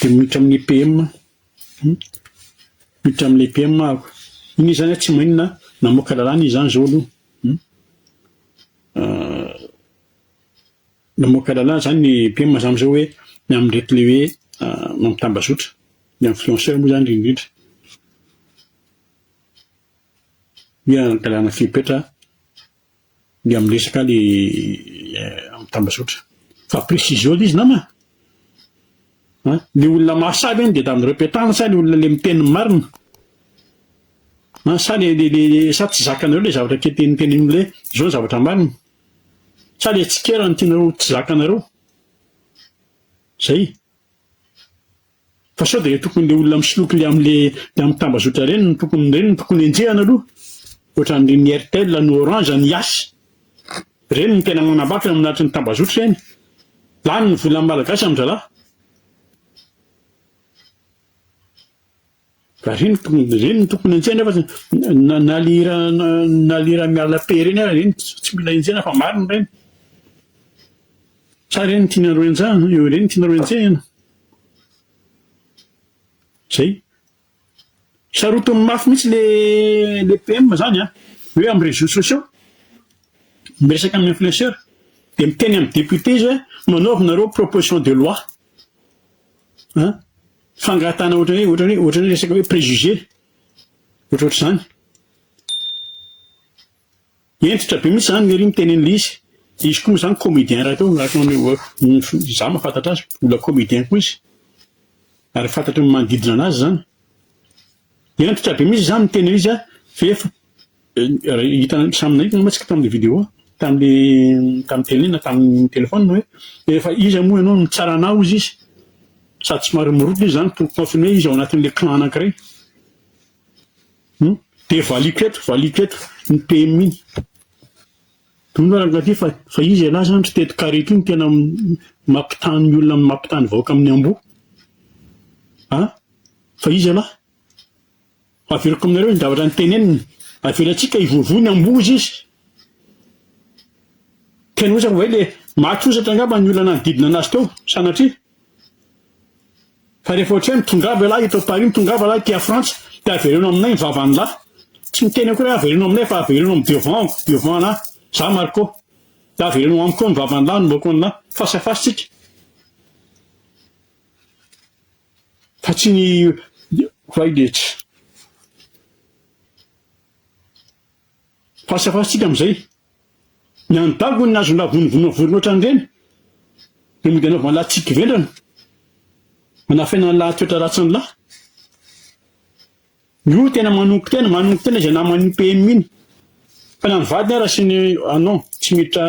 Dia miditra amin'ny EPM. Hum. Miditra amin'ny EPM aho. Iny izy izany aho tsy maninona namoaka lalàna izy izany izao aloha. Hum. Euh, namoaka lalàna izany ny EPM izany amin'izao hoe ny amin'ireto ilay hoe euh, mampitambazotra. Ny influenceur moa izany indrindra. Dia lalàna fepetra Ny amin'ny resaka le amin'ny tambazotra. Fa précision le izy nama a! An! Ny olona mahasahy ve ny dia dans le repetana sa le olona le miteny ny marina? An! Sa le le le sa tsy zakanareo le zavatra ke ten tenenin'olona hoe zao ny zavatra marina? Sa le tsikera no tianareo tsy zakanareo? Zay. Fa sao dia tokony le olona misoloky le am le le am tambazotra ireny no tokony ireny no tokony enjehana aloha ohatran'ireny ny Airtel ny Orange ny Yas ireny no tena manambakina am lahatry ny tambazotra ireny lany ny volan'ny malagasy am dralahy Ka reny reny tokony enjehina fa na na le hira na le hira miala paix reny ary reny tsy mila enjehina fa marina reny. Sa reny tianareo enjehina reny tianareo enjehina. Zay. Sarotiny mafy mihitsy le le PM zany an, hoe am réseaux sociaux miresaka am influenceur de miteny am député izy hoe manaova nareo proposition de loi. a fangatahana ohatrany hoe ohatrany hoe ohatrany hoe resaka hoe préjugé ohatrohatr'izany hentitra be mihitsy zany lery miteny an'ilay izy izy koa moa zany comédien rahateo araka ny maneho za mahafantatra azy mbola comédien koa izy ary fantatry ny manodidina anazy zany hentitra be mihitsy za miteny an'izy a fa efa Hitanareo samy nahita angamba tsika tamin'ilay vidéo tamin'ilay tamin'ny télé na tamin'ny téléphone hoe rehefa iza moa ianao no tsara anao hozy izy sady somary mirodo izy izany pour confirmer izy ao anatin'ilay clan anankiray. Hmm? Dia valiko eto, valiko eto ny PM iny. Dony ary angaty fa fa izy ialahy izany ry teto carré ity no tena mampitany ny olona mampitany vahoaka amin'ny amboa. Ah? Fa izy ialahy. Averiko aminareo ny zavatra niteneniny, Avelantsika hivoavoa ny ambohoza izy. Tena hoe zany, hoe le maty hosatra angamba ny olona nanodidina anazy teo, sanatria. Fa rehefa ohatrany, tongava ialahy eto Paris, tongava lahy aty Frantsa, dia avereno aminay ny vavan'ny lahy. Tsy miteny akory aho, avereno aminay fa avereno amin'ny devant, devant anah, za Marco. Dia avereno amiko koa ny vavan'ny lahy, ny mokon'ny lahy. Face à face tsika. Fa tsy ny Vaidehi. Fahasafarintsika amin'izay, ny an'i Dago no azonao vonovonoina vorona ohatran'ireny, dia mody anaovana lahy tsiky vendrana, anafenana ny lahy toetra ratsin'ny lahy. Io tena manongo tena, manongo tena izay naman'io PM iny. Fa na ny vadiny ara sy ny ah non, tsy miditra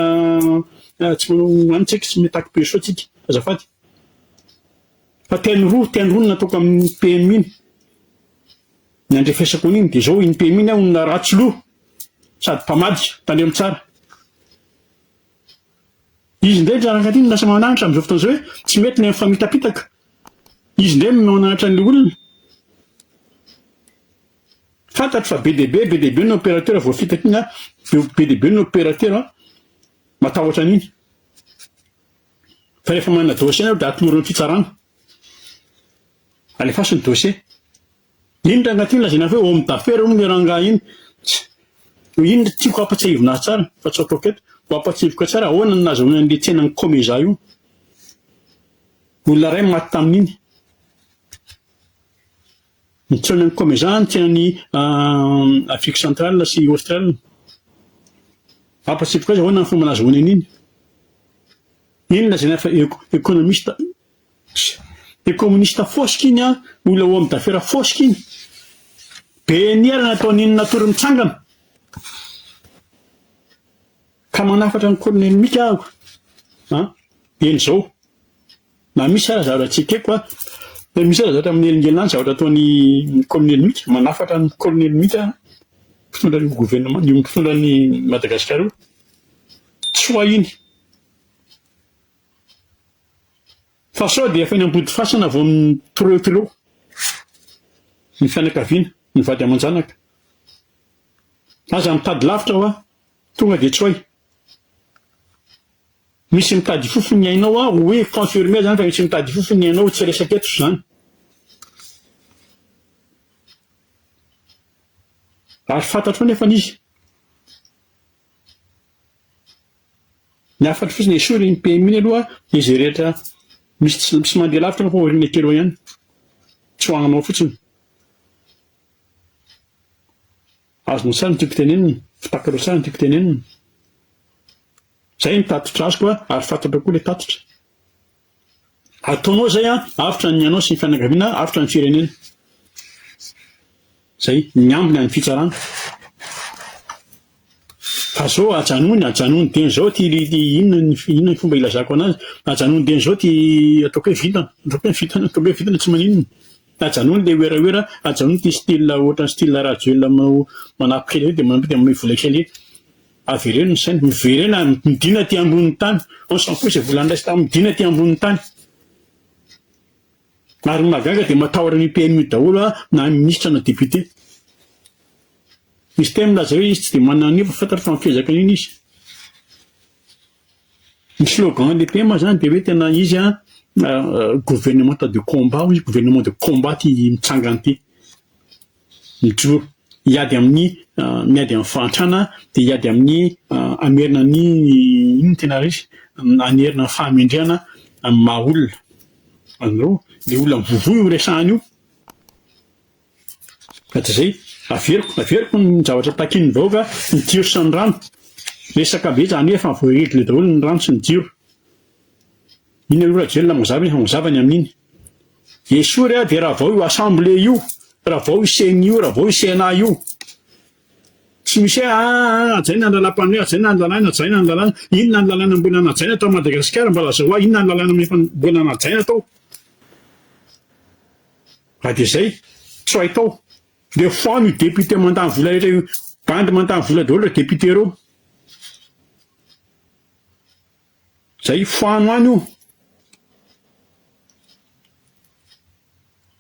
tsy manao any tsika, tsy mitaky berceau tsika, azafady. Fa teny roa, teny roa no natoko amin'iny PMI iny. Ny andrefesako an'iny dia izao, iny PMI iny aho olona ratsy loha, sady mpamadika, tandremo tsara. Izy indray ny ranaka ity no lasa manahatra amin'izao fotoana izao hoe tsy mety ilay mifamitapitaka. Izy indray no manahatra an'ilay olona. Fantatro fa be dia be, be dia be ny opérateur voafitaka iny, be dia be ny opérateur matahotra an'iny. Fa rehefa manana dossier ianao dia atolory ny fitsarana. Alefaso ny dossier. Iny ranga ity lazaina fa hoe homme d'affaires hono io ranga iny. Iny no tiako hampatsiahivina azy tsara fa tsy ataoko eto. Ho hampatsiahiviko tsara ahoana no nahazahoana an'ilay tsenan'ny Comeza io. Olona iray no maty tamin'iny. Mitsoina ny Comezan aty any Afrique Centrale sy Australe. Ampatsiahivo koa aiza hoana ny fomba nazahoany an'iny. Iny lazaina fa economiste sy communiste fosika iny an, olona homme d'affaires fosika iny. Be niera nataon'iny natory mitsangana. Ka manafatra an'i Kolonely Mika aho an! Eny izao. Na misy aza zavatra tsy ekeko an! Na misy aza zavatra manelingelina an! Zavatra ataon'i Kolonely Mika, manafatra an'i Kolonely Mika aho, mpitondra io governemanta, io mpitondra an'i Madagasikara io. Tsy ho ahy iny. Fa sao dia efa eny Ambodifasana vao mi-troetreo ny fianakaviana, ny vady aman-janaka. Aza mitady lavitra hoa. Tonga dia tsoay. Misy mitady ifofo ny ainao aho hoe confirmer zany fa misy mitady ifofo ny ainao tsy resaka eto zany. Ary fantatro nefany izy. Ny hafatro fotsiny esory iny PM iny aloha dia izay rehetra misy tsy misy mandeha lavitra nefa aoriana kely eo ihany. Tsy ho anao fotsiny. Azonao sahy ny tiako tenenina, fitakarao sahy ny tiako tenenina. Izay ny tatitra azoko ary fantatrao koa ilay tatitra. Ataonao izay an, avotra ny anao sy ny fianakaviana, avotra ny firenena. Izay, miambina ny fitsarana. Fa zao ajanony, ajanony dieny zao ty inona ny inona ny fomba ilazako anazy, ajanony dieny zao ty ataoko hoe vintana, ataoko hoe vintana, ataoko hoe vintana tsy maninona. Ajanony le werawera, ajanony ity style ohatran'ny style Rajoelina manao manampy kely ery dia manao dia manome vola kely ery. Avereno ny saina, miverena, midina aty ambonin'ny tany. On s'en fout izay vola niraisy tamin'ny midina aty ambonin'ny tany. Ary ny mahagaga dia matahotra an'io PM io daholo a, na ministra na député. Misy teny milaza hoe izy tsy dia manana an'io fa fantatro fa mifezaka an'iny izy. Ny slogan lehibe moa izany dia hoe tena izy an, gouvernementa de combat hoy izy, gouvernement de combat ity mitsangana ity. Mijoro hiady amin'ny miady amin'ny fahantrana dia hiady amin'ny hamerina ny inona no tena resy? hanerina ny fahamendrehana amin'ny maha olona. Fandrao, ilay olona mivovoha io resahana io. Hatrizay, averiko, averiko ny zavatra takian'ny vahoaka, ny jiro sy ny rano. Resaka be zany efa voaregle daholo ny rano sy ny jiro. Iny aloha Rajoelina mazava efa mazava ny amin'iny. Esory a dia ravao io assemblée io, ravao io ceni io, ravao io cna io. Tsy misy hoe ah hajaina ny lalam-panoe, hajaina ny lalàna, hajaina ny lalàna. Inona ny lalàna mbola najaina tao Madagasikara mba lazao ahy, inona ny lalàna efa mbola najaina tao. Raha dia izay, tsy ho hay tao. Dia foano io député mandany vola rehetra io. Bandy mandany vola daholo ireo députés ireo. Izay, foano any io.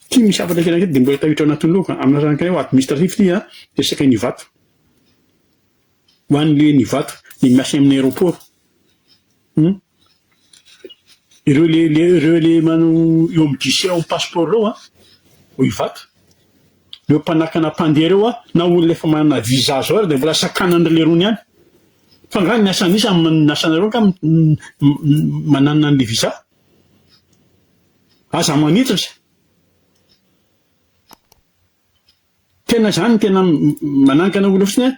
Ity misy hafatra kely an'ity dia mbola tafiditra ao anatin'ny loka. Amin'ny lafiny anankiray, administratif ity an, dia saika ny Ivato. Ho an'ilay ny Ivato, ny miasa amin'ny aéroport. Hum. Ireo le le ireo le manao eo amin'ny guichet ao amin'ny passeport ireo a, vao hivaky. Ireo mpanakana mpandeha ireo a, na olona efa manana visa zao ary dia mbola sakanan'ny lerony ihany. Fa angaha ny asan'ny iza amin'ny amin'ny asanareo angaha m- m- m- mananina an'le visa? Aza manitatra. Tena zany no tena manankana olona fotsiny an,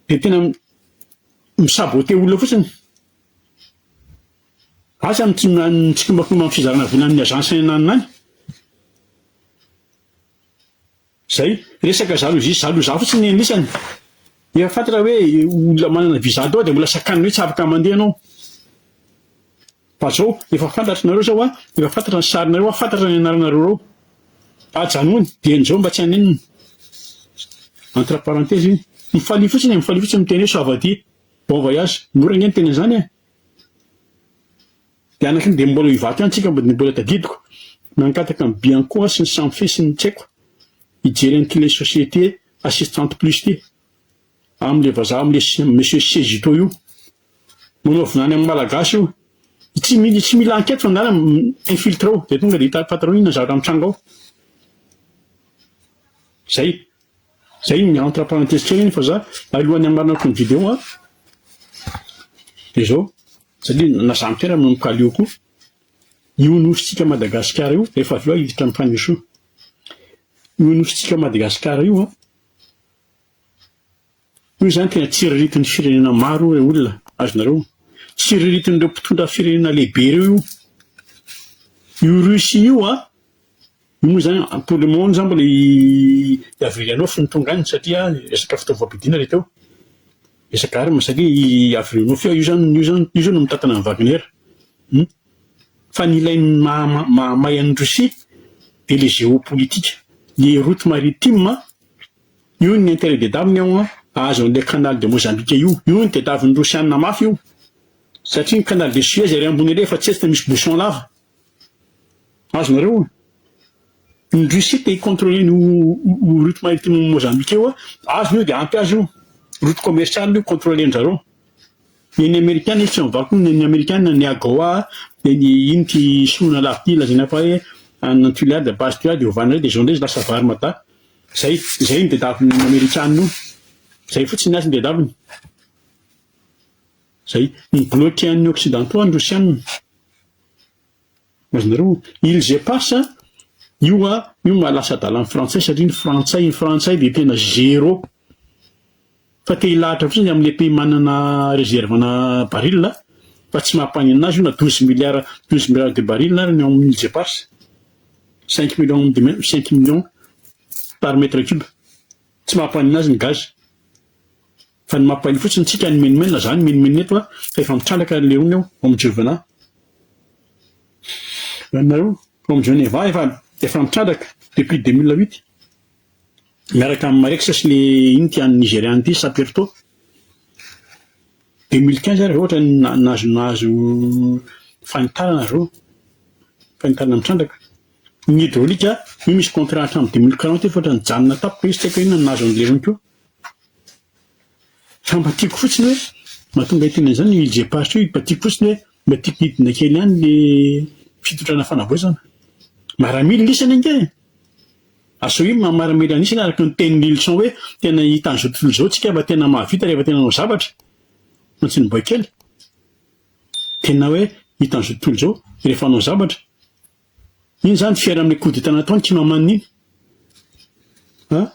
dia tena mi saboter olona fotsiny. Asa ny tsikombakimba amin'ny fizarana vola amin'ny agence any ananona any. Zay, resaka jalousie jaloux fotsiny ny anisany. Efa fantatra hoe olona manana visa tao dia mbola sakaniny hoe tsy afaka mandeha ianao. Fa zao efa fantatry nareo zao a, efa fantatra ny sarinareo a, fantatra ny anaranareo reo. Ajanony dieny zao mba tsy hanenina. Entre parenthèse iny. Mifalia fotsiny e, mifalia fotsiny miteny hoe soavadia, bon voyage. Mora ange miteny an'zany e. De anakiny de mbola hivato ihany tsika de mbola tadidiko. Nangataka an'i Bianco aho sy ny Samfe sy ny tsy haiko hijery an'ity ilay société assistante plus ity. amle vazaha amle monsieur Sezito io manao vinany amin'ny malagasy io tsy mila tsy mila enquête fa ngala infiltré ao dia tonga dia hita patron inona zavatra mitranga ao zay zay ny entre parenthèse kely fa za alohan'ny amarnako ny vidéo a dia zao satria na Jean Pierre no mikaleo koa io nosintsika Madagasikara io efa avy eo hiditra amin'ny fanesoa io nosintsika Madagasikara io a Hoy izany tena tsiriritin'ny firenena maro io re olona, azonareo? Tsiriritin'ireo mpitondra firenena lehibe ireo io. Io Russie io an, io moa izany pour le moment izany mbola i Gavrilianov no tonga any satria resaka fitaovam-piadiana ilay teo, resaka armes satria i Gavrilianov io izany io izany io izao no mitantana an'i Wagner hum. Fa ny ilay maha mahamay an'i Russie dia ilay géopolitique, ny route maritime Io ny intérêt des dames ao an, ahazo an'ilay canal de Mozambique io. Io no tediavin'ny Rosianina mafy io. Satria ny canal de Suez ery ambony ery efa tsy etsy fa misy bouchon lava. Azonareo? Ny Russie te hi-contrôler ny route maritime Mozambique io, azony io dia ampy azy io. Route commerciale io, contrôler-ndry zareo. Eny amerikana izy tsy mivako ny eny amerikana ny AGOA dia ny iny ty solona lafo ty lazaina fa hoe any an Tuléar dia base Tuléar dia ovana indray dia zao indray izy lasa vary mada zay zay no tedaviny ny amerikana io zay fotsiny azy no tedaviny zay mi-bloquer an'ny occidentaux ny rosiana Azonareo? Ils je passe a, io a, io maha lasa adala ny frantsay satria ny frantsay, ny frantsay dia tena zero. Fa te hilahatra fotsiny ny amin'ilay pays manana réserve ana baril a, fa tsy maha mpanenina azy io na douze milliards, douze milliards de baril ary ny ao amin'ny ils je passe. Cinq millions de mètres, cinq millions par mètre cube. Tsy maha mpanenina azy ny gaz. Fa ny mampahiny fotsiny tsika ny menomenona na za ny menomenona eto fa efa mitralaka ny leony ao am jovena nareo ao am geneva efa efa mitralaka depuis deux mille huit miaraka am marex sy le ino ty any nigeria any ty saperto deux mille quinze ary zao ohatra ny nahazo nahazo fanitarana zao fanitarana mitralaka ny hydraulique io misy contrat hatram deux mille quarante efa ohatra nijanona tampoka izy tsy haiko inona nahazo ny leony koa Fa mba tiako fotsiny hoe, mahatonga ahy te hanao izany io IJ Pass io, mba tiako fotsiny hoe mba tiako hidina kely any le fitondrana fanavaozana. Maramila ny isany ange e! Asao io maha maramila ny isany araka ny tenin'i Lilison hoe tena hita an'izao tontolo izao tsika fa tena mahavita rehefa tena manao zavatra. Fa tsy niboay kely. Tena hoe hita an'izao tontolo izao rehefa hanao zavatra. Iny zany fier amin'ny coup d'etat nataony ity mamaniny iny an!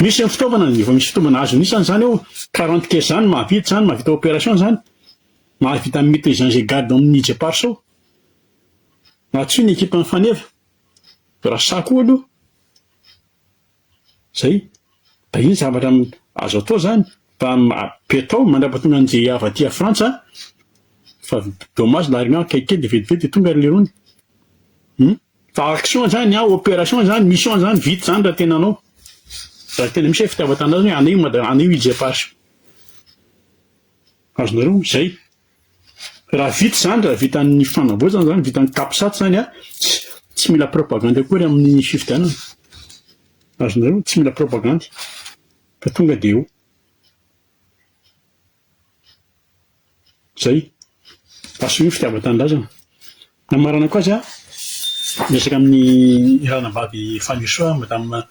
Misy zany fitaovana ny efa misy fitaovana azony isany zany ao quarante caisse zany mahavita zany mahavita operation zany mahavita mite zany zay garde amin'ny ije pars ao na tsy ny ekipan'ny faneva raha sahy koa aloha Zay. Da iny zavatra azo atao zany fa apetao mandrapatonga an'i JIAV aty à Frantsa fa dommage la réunion akaiky kely de vetivety de tonga ry Lerony. Hum. Fa action zany an, opération zany, mission zany vita zany raha tena anao. Raha tena misy hoe fitiavan-tanindrazana hoe anio Mada, anio i JPH. Azonareo izay. Raha vita izany, raha vitan'ny fanavaozana izany, vitan'ny capsat izany an, tsy mila propagandy akory amin'ny fifidianana. Azonareo, tsy mila propagandy. Fa tonga dia eo. Izay. Asio ny fitiavan-tanindrazana. Nambarana koa aza miresaka amin'ny ranabavy Fanirisoa madame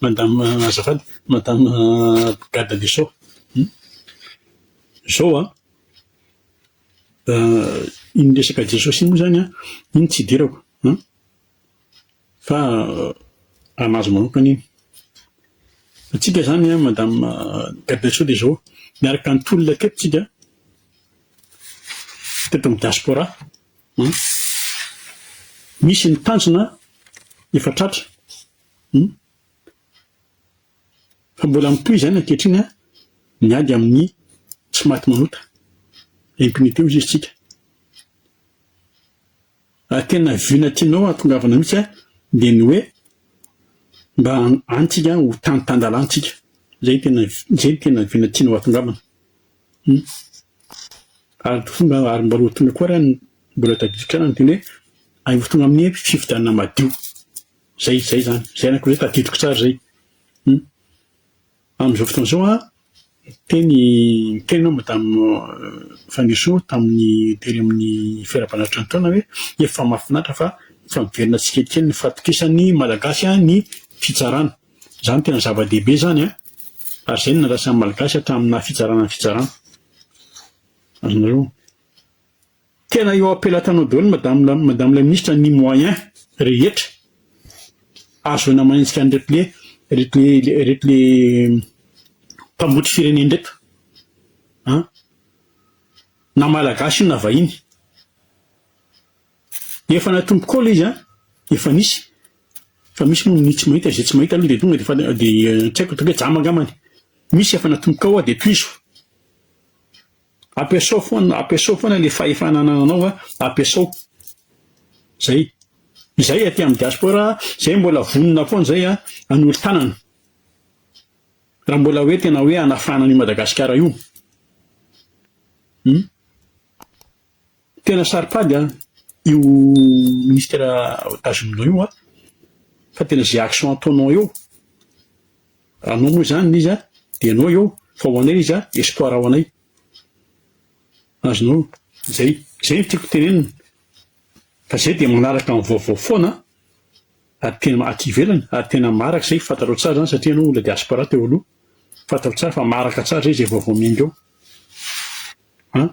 madame azafady madame Brigade Lesoa hum zao an iny resaka Jesosy iny moa zany an iny tsy idirako an. Fa an'azy manokana iny. Antsika izany an, Madame Garde des Sceaux dia izao, miaraka ny tolona teto tsika, teto amin'ny diaspora an, misy ny tanjona efa tratra an, fa mbola mitohy izany ankehitriny an, ny ady amin'ny tsy maty manota, impunité hoy izy tsika. Ary tena vue na tianao hahatongavana mihitsy an, dia ny hoe mba any tsika ho tany tan-dalàna tsika. Izay tena izay no tena vue na tianao hahatongavana. Hum. Ary fomba ary mba roatony koa raha mbola tadidiko ihany teny hoe any ho tonga amin'ny fifidianana madio. Izay izay izany. Izay anakiroa izay tadidiko tsara izay. Hum. Amin'izao fotoana izao aho niteny niteny aho madame Fanirisoa tamin'ny tery amin'ny fiaraban'Atra nitaona hoe efa mahafinaritra fa efa miverina tsikelikely ny fahatokisan'ny malagasy ny fitsarana. Izany tena zava-dehibe izany an! ary izay no nandrasan'ny malagasy hatramin'ny naha fitsarana ny fitsarana. Azonareo? Tena eo am-pelatanao daholo madame madame la ministre ny moyen rehetra ahazoana manenjika an'ireto le ireto le ireto le mpambotry firenena ireto an! na malagasy io na vahiny efa natomboka eo le izy an! efa nisy fa misy moa ny tsy mahita izay tsy mahita aloha de tonga de fa de tsy haiko ataoko hoe jamba angambany misy efa natomboka ao de tohizo. Ampiasao foana, ampiasao foana le fahefana anananao a, ampiasao. Zay. Izay aty amin'ny diaspora, zay mbola vonona foana zay a, hanolo tanana. Raha mbola hoe tena hoe hanafana an'io Madagasikara io. Hum. Tena saro-pady a, io ministera tazominao io a, fa tena ze action ataonao eo. Raha anao moa izany ny izy dia anao eo fa ho anay izy espoir ho anay. Azonao. Izay izay no tiako tenenina fa izay dia manaraka ny vaovao foana ary tena aty ivelany ary tena maraka izay fantatrao tsara izany satria ianao olona diaspora teo aloha fantatrao tsara fa maraka tsara izay izay vaovao miainga eo an!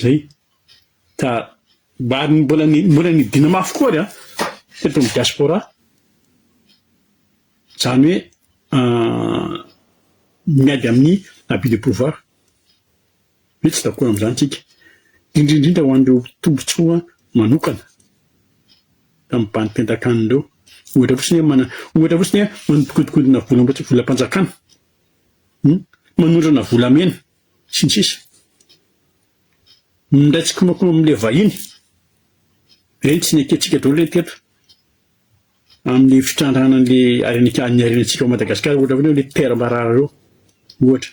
Zay. Ka mba mbola ny mbola ny dina mafy koa ary an! Teto amin'ny diaspora. Zany hoe miady amin'ny abus de pouvoir. Hoe tsy d'accord amin'izany tsika. Indrindra indrindra ho an'ireo tombotsoa manokana. Tamin'ny bandy mpiandrakanina ireo. Ohatra fotsiny hoe mana- ohatra fotsiny hoe manodikodinkodina volam-panjakana. Hum? Manondrana volamena. sy ny sisa Minday tsikonokona amin'ilay vahiny. Ireny tsy nekentsika daholo ireny teto amin'ny fitrandrahana an'ilay harena ny harenantsika ao Madagasikara ohatra foana hoe Père Marara ireo ohatra.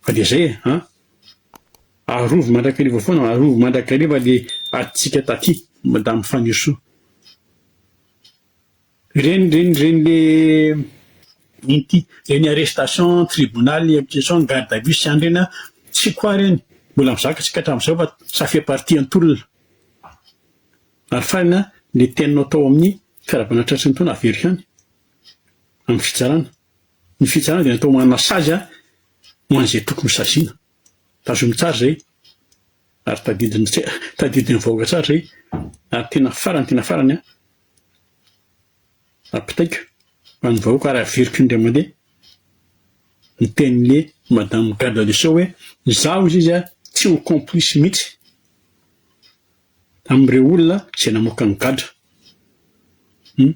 Fa dia izay e an! Arovy mandrakariva foana, arovy mandrakariva ilay adintsika taty Madame Fanirisoa. Ireny ireny ireny le inty ireny arrestation tribunal inquisition garde à vue sy any ireny an tsy quoi ireny mbola mizaka tsika hatramin'izao fa ça fait partie an tolona ary farany an le teninao tao amin'ny fiarahabana tratry ny taona averiko any amin'ny fitsarana ny fitsarana dia natao manana sazy an ho an'izay tokony ho saziana tazominy tsara izay ary tadidiny tse tadidin'ny vahoaka tsara izay ary tena farany tena farany an Apitaiko ho an'ny vahoaka ary averiko indray mandeha ny tenin'le madame garde des sceaux hoe izaho izy izy tsy ho complice mihitsy amin'ireo olona izay namoaka ny gadra hum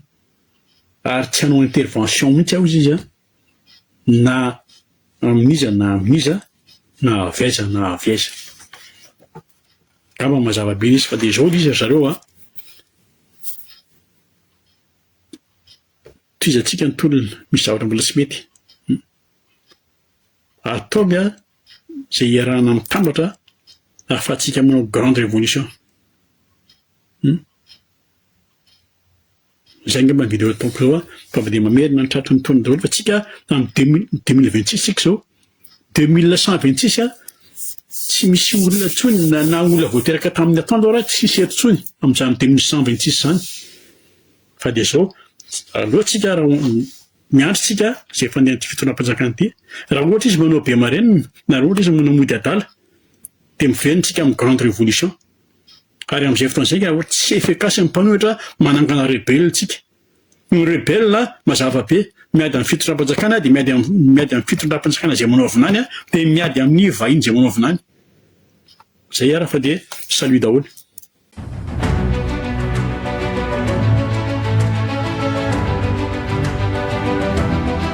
ary tsy hanao intervention mihitsy aho izy izy an! na amin'iza na amin'iza na avy aiza na avy aiza. Angamba mazava be izy fa dia izao izy ry zareo a. Tohizantsika ny tolona, misy zavatra mbola tsy mety. Ataovy a izay iarahana mitambatra ahafahantsika manao grande révolution. Izay angamba ny video ataoko zao a, fa avy dia mamerina ny tratry ny taona daholo fa tsika amin'ny deux mille deux mille vingt six tsika zao, deux mille cent vingt six a, tsy misy olona tsony na na olona vao teraka tamin'ny atoandro ara tsisy eto tsony amin'izany deux mille cent vingt six zany, fa dia zao aleo tsika ra miandry tsika zay fandehan'ity fitondram-panjakana ity, ra ohatra izy manao be marenina na ra ohatra izy manao mody adala dia miverina tsika amin'ny grande révolution. Ary amin'izay fotoana izay ka tsy efficace amin'ny mpanohitra manangana rebelle tsika. Ny rebelle mazava be, miady amin'ny fitondram-panjakana dia miady amin'ny miady amin'ny fitondram-panjakana izay manao vinany dia miady amin'ny vahiny izay manao vinany. Zay ara fa dia salut daholo.